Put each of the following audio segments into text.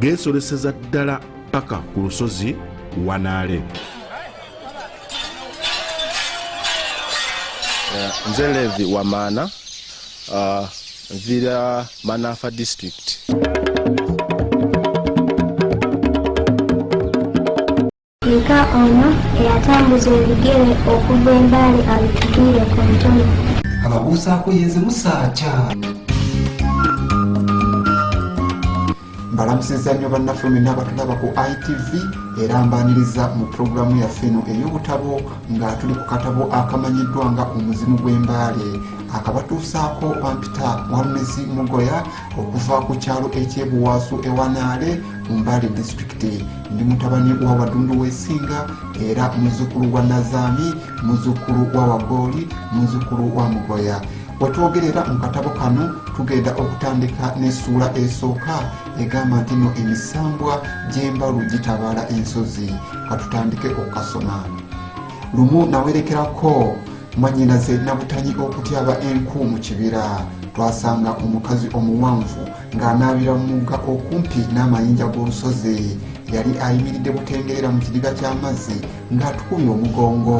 geesoleseza ddala paka ku lusozi wanaale eh, nze levi wamaana ah, nvira manafa district Yiga ono eyatambuza ebigere okuva embaali abitugwire ku ntono. Ababuusaako yenze musaaca. mbalamusiza nnyo bannaffe mwenna abatulaba ku itv era mbaniriza mu pulogulaamu yaffe eno ey'obutabo nga tuli ku katabo akamanyiddwa nga omuzimu gw'embaale akabatuusaako bampita walumezi mugoya okuva ku kyalo ekyebuwaasu ewanaale mu mbaale disitulikiti ndi mutabani wa wadundu wesinga era muzzukulu wa nazaami muzzukulu wa wagooli muzzukulu wa mugoya wetwogerera mu katabo kano tugenda okutandika n'essuula esooka egamba nti no emisambwa gy'embalu gitabaala ensozi katutandike okukasoma lumu nawerekerako mwannyinaze nabutanyi okutyaba enku mu kibira twasanga omukazi omuwanvu ng'anaabira mu mugga okumpi n'amayinja g'olusozi yali ayimiridde butengerera mu kidiga ky'amazzi ng'atukubye omugongo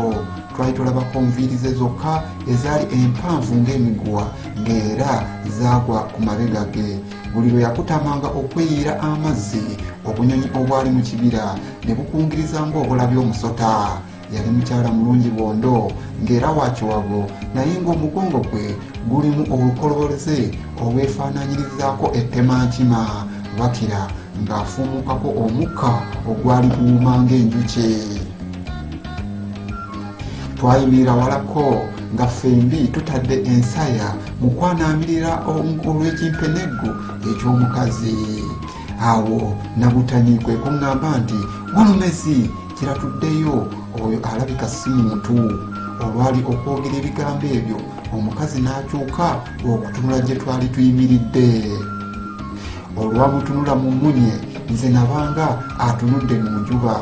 twali tulabako nviiri ze zokka ezaali empanvu ng'emiguwa ng'era zaagwa ku mabega ge buli lwe yakutamanga okweyiira amazzi obunyonyi obwali mu kibira ne bukungiriza ng'obulabi omusota yali mukyala mulungi bwondo ng'era wa kiwago naye ng'omugongo gwe gulimu obukoloboleze obwefaananyirizaako ettemankima bakira ng'afuumukako omukka ogwali guwuma ng'enjuki twayimirira walako nga ffembi tutadde ensaya mu kwanaamirira olw'ekimpeneggu eky'omukazi awo nabutani kwe kuŋŋamba nti walumezi kiratuddeyo oyo alabika si muntu olwali okwogera ebigambo ebyo omukazi n'akyuka okutunula gye twali tuyimiridde olwamutunula mu munye nze nabanga atunudde mu njuba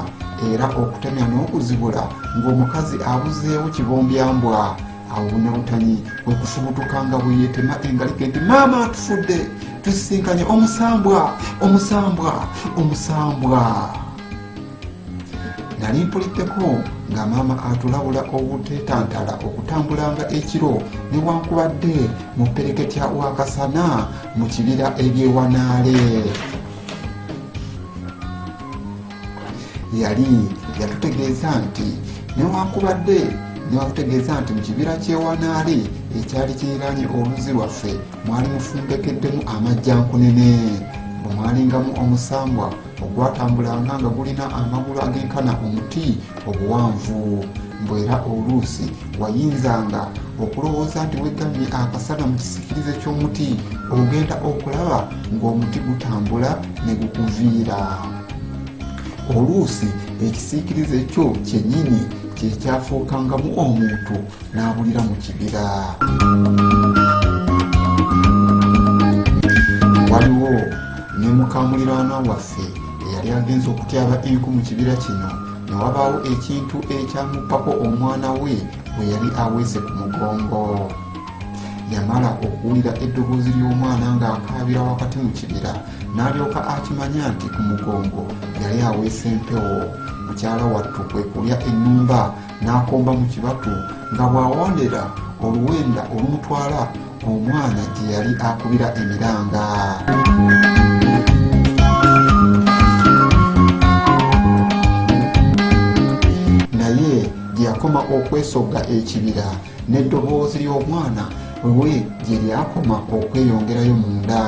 era okutemya n'okuzibula ng'omukazi abuzeewo kibombyambwa awo bunawutanyi okufubutuka nga bweyetema engalike nti maama atufudde tusisinkanye omusambwa omusambwa omusambwa nali mpuliddeko nga maama atulabula obutetantala okutambulanga ekiro newankubadde mu pereketya wakasana mu kibira ebyewanaale yali yatutegeeza nti newankubadde newakutegeeza nti mu kibira kyewanaale ekyali kiriraanye oluzi lwaffe mwali mufumbekeddemu amajjankunene bwe mwalingamu omusambwa ogwatambulanga nga gulina amagulu agenkana omuti obuwanvu mbu era oluusi wayinzanga okulowooza nti wegamye akasana mu kisikirize ky'omuti ogenda okulaba ng'omuti gutambula ne gukuviira oluusi ekisiikirize kyo kyennyini kyekyafuukangamu omuntu n'abulira mu kibira waliwo ne mukamuliraanwa waffe eyali agenza okutyaba enku mu kibira kino ne wabaawo ekintu ekyamuppako omwana we bwe yali aweese ku mugongo yamala okuwulira eddoboozi ly'omwana ng'akaabira wakati mu kibira n'alyoka akimanya nti ku mugongo yali aweese empewo mukyala wattu kwe kulya ennumba n'akomba mu kibatu nga bw'awondera oluwenda olumutwala omwana gye yali akubira emiranga naye gye yakoma okwesogga ekibira n'eddoboozi ly'omwana we gye lyakoma okweyongerayo munda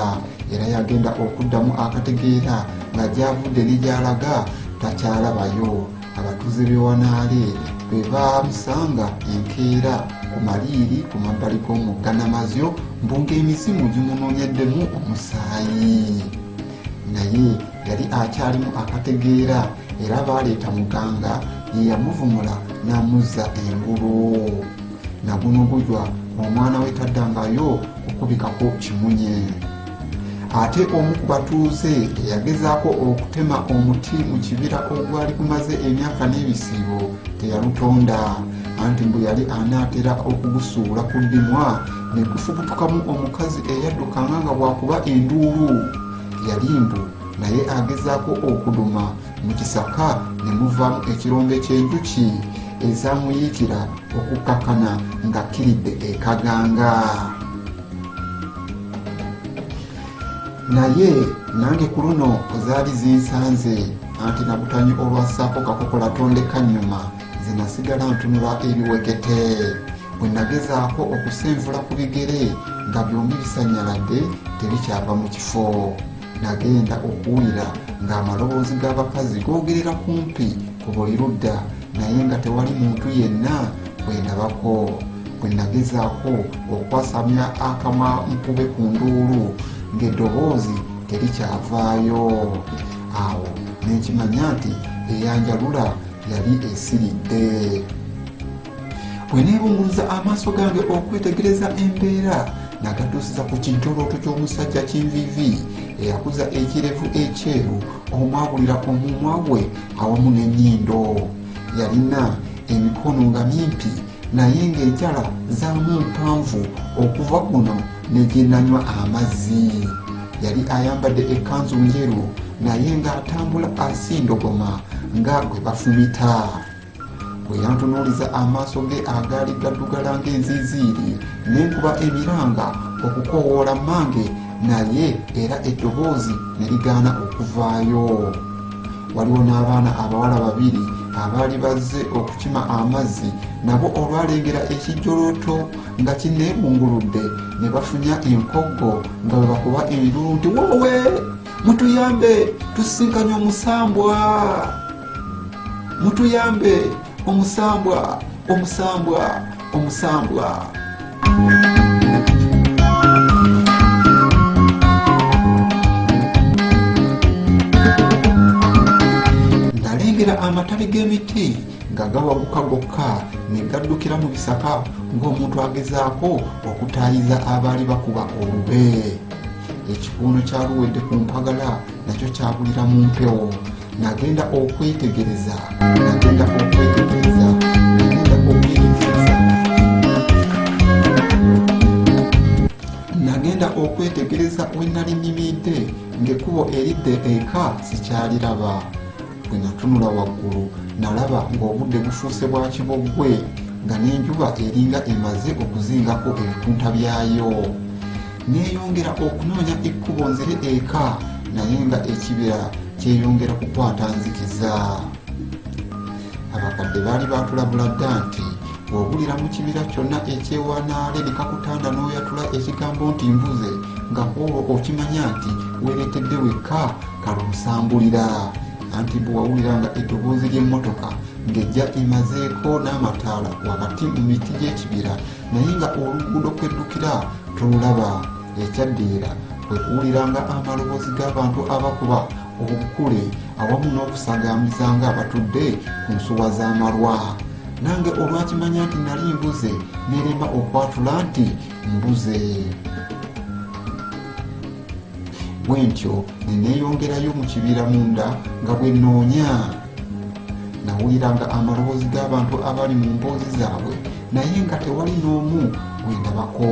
era yagenda okuddamu akategeera nga gyavudde ne gyalaga takyalabayo abatuuze b'e wanaale bwe baamusanga enkeera ku maliiri ku mabbali g'omugga namazyo mbu ng'emizimu gimunoonyeddemu omusaayi naye yali akyalimu akategeera era baaleeta muganga ye yamuvumula n'amuzza engulu naguno gujwa omwana we taddangayo kukubikako kimunye ate omu ku batuuze eyagezaako okutema omuti mu kibira ogwali gumaze emyaka n'ebisiibo teyalutonda anti mbu yali anaatera okugusuula ku ddimwa ne gufubutukamu omukazi eyaddukanga nga bwakuba enduulu yali mbu naye agezaako okuduma mu kisaka ne muvaamu ekirombe ky'enjuki ezamuyiikira okukkakana ng'akkiridde ekaganga naye nange ku luno zaali zinsanze anti nabutanyi olwassaako kakokola tondeka nnyuma zenasigala ntunula ebiwekete bwe nagezaako okusenvula ku bigere nga byombi bisanyaladde tebikyava mu kifo Nagenda okuwulira ng'amaloboozi g'abakazi googerera kumpi ku buli ludda naye nga tewali muntu yenna bwe ndabako. Bwe nagezaako okwasamya akamwa nkube ku nduulu ng'eddoboozi terikyavaayo. Awo ne nkimanya nti eyanjalula yali esiridde. bwe neebunguluza amaaso gange okwetegereza embeera nagatuusiza ku kintolooto ky'omusajja kinvivi eyakuza ekirevu ekyeru omwabulira ku mumwa gwe awamu n'ennyindo yalina emikono nga mimpi naye ng'enjala zaamu mpanvu okuva kuno ne gyenanywa amazzi yali ayambadde ekkanzu njeru naye ng'atambula asindogoma nga gwe bafumita bwe yantunuuliza amaaso ge agaali gaddugala ng'enziiziiri ne nkuba emiranga okukoowoola mmange naye era eddoboozi ne ligaana okuvaayo waliwo n'abaana abawala babiri abaali bazze okukima amazzi nabo olwalengera ekijjolooto nga kineebunguludde ne bafunya enkoggo nga bwe bakuba enduulu nti woowe mutuyambe tusisinkanye omusambwa mutuyambe omusambwa omusambwa omusambwa nalengera amatale g'emiti nga gawaguka gokka ne gaddukira mu bisaka ng'omuntu agezaako okutaayiza abaali bakuba olube ekikuuno kyaluwedde ku mpagala nakyo kyabulira mu mpewo nagenda okwetegereza nagenda okwetegereza nagenda okwetegereza wenali nyimidde ng'ekkubo eridde eka sikyaliraba bwe natunula waggulu nalaba ng'obudde bufuuse bwa kiboggwe nga n'enjuba eringa emaze okuzingako ebikunta byayo Neeyongera okunoonya ekkubo nzire eka naye nga ekibira kyeyongera kukwata nzikiza. Abakadde baali baatulabula dda nti bw'obulira mu kibira kyonna ekyewanaale ne kakutanda n'oyatula ekigambo nti mbuze nga kwolwo okimanya nti weereetedde wekka kalumusambulira anti bwe wawulira nga eddoboozi ly'emmotoka ng'ejja emazeeko n'amataala wakati mu miti gy'ekibira naye nga oluguudo kweddukira tolulaba ekyaddirira kwe kuwuliranga amaloboozi g'abantu abakuba obukule awamu n'okusagambisa nga abatudde ku nsuwa z'amalwa nange olwakimanya nti nali mbuze nerema okwatula nti mbuze bwentyo neneeyongerayo mu kibira munda nga bwe noonya nawuliranga amaloboozi g'abantu abali mu mboozi zaabwe naye nga tewali n'omu gwendabako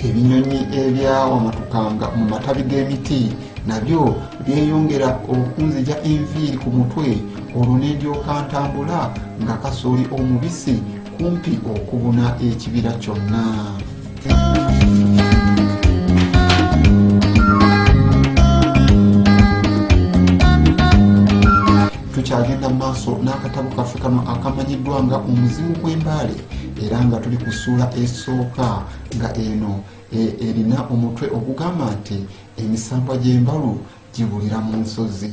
ebinyonyi ebyawamatukanga mu matabi g'emiti nabyo byeyongera okunzija enviiri ku mutwe olwo nendyoka ntambula nga kasooli omubisi kumpi okubuna ekibira kyonna tukyagenda mu maaso n'akatabo kaffe kano akamanyiddwa nga omuzimu gw'embaale era nga tuli ku ssuula esooka nga eno e, erina omutwe ogugamba nti emisambwa gy'embalu gibulira mu nsozi